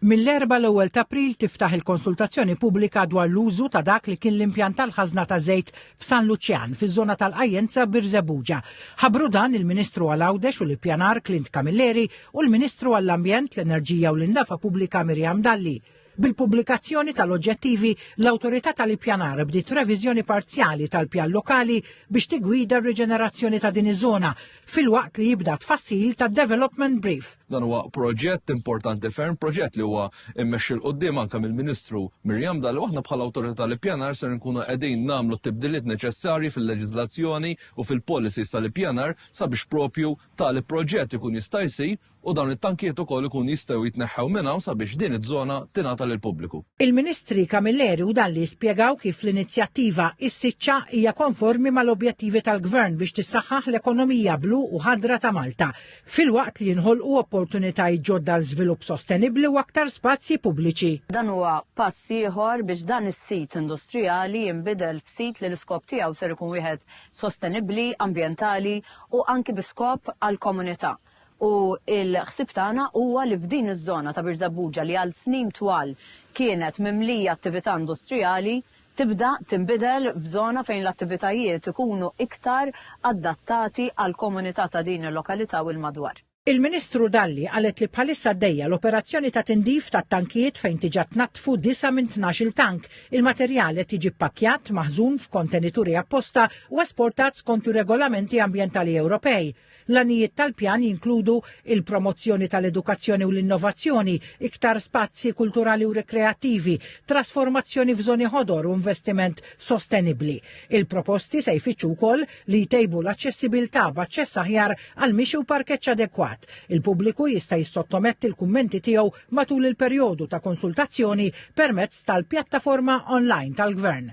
Mill-Erbgħa l-ewwel t'April tiftaħ il-konsultazzjoni pubblika dwar l-użu ta' dak li kien l-impjant tal-ħażna ta' żejt f'San Luċjan, fiż-żona tal-Qajjenza Birżebbuġa. Ħabbru dan il-Ministru għal Għawdex u l-Ippjanar Clint Camilleri u l-Ministru għall-Ambjent, l-Enerġija u l-Indafa Pubblika Miriam Dalli. Bil-pubblikazzjoni tal-oġġettivi, l-Awtorità tal-Ippjanar bdiet reviżjoni parzjali tal-pjan lokali biex tiggwida r-riġenerazzjoni ta' din iż-żona, filwaqt li jibda tfassil ta' development brief. Dan huwa proġett importanti ferm, proġett li huwa immexxi l qudiem anke mill-Ministru Mirjam Dalli aħna bħala awtorità tal-ippjanar ser nkunu qegħdin nagħmlu t-tibdiliet neċessarji fil-leġiżlazzjoni u fil-policies tal-ippjanar sabiex propju tali proġett ikun jista' jsir u dawn it-tankijiet ukoll ikun jistgħu jitneħħew minn hawn sabiex din iż-żona tingħata lill-pubbliku. Il-Ministri Camilleri u Dalli spjegaw kif l-inizjattiva Is-Siċċa hija konformi mal-objettivi tal-Gvern biex tissaħħaħ l-ekonomija blu u ħadra ta' Malta, filwaqt li jinħolqu opportunitajiet ġodda għal żvilupp sostenibbli u aktar spazji pubbliċi. Dan huwa pass ieħor biex dan is-sit industrijali jinbidel f'sit li l-iskop tiegħu ser ikun wieħed sostenibbli, ambjentali u anki bi skop għall-komunità. u l-ħsieb tagħna huwa li f'din iż-żona ta' Birżebbuġa li għal snin twal kienet mimlija attività industrijali tibda tinbidel f'żona fejn l-attivitajiet ikunu iktar adattati għall-komunità ta' din il-lokalità u l-madwar. Il-Ministru Dalli qalet li bħalissa għaddejja l-operazzjoni ta' tindif tat-tankijiet fejn tiġa tnaddfu disgħa minn tnax-il tank. Il-materjal qed jiġi ppakkjat, maħżun f'kontenituri apposta u esportat skont ir-regolamenti ambjentali Ewropej. L-għanijiet tal-pjan jinkludu il-promozzjoni tal-edukazzjoni u l-innovazzjoni, iktar spazji kulturali u rikreattivi, trasformazzjoni f'żoni ħodor u investiment sostenibbli. Il-proposti se jfittxu wkoll li jtejbu l-aċċessibilità b'aċċess aħjar għall-mixi u parkeġġ adekwat. Il-pubbliku jista' jissottometti l-kummenti tiegħu matul il-perjodu ta' konsultazzjoni permezz tal-pjattaforma online tal-Gvern.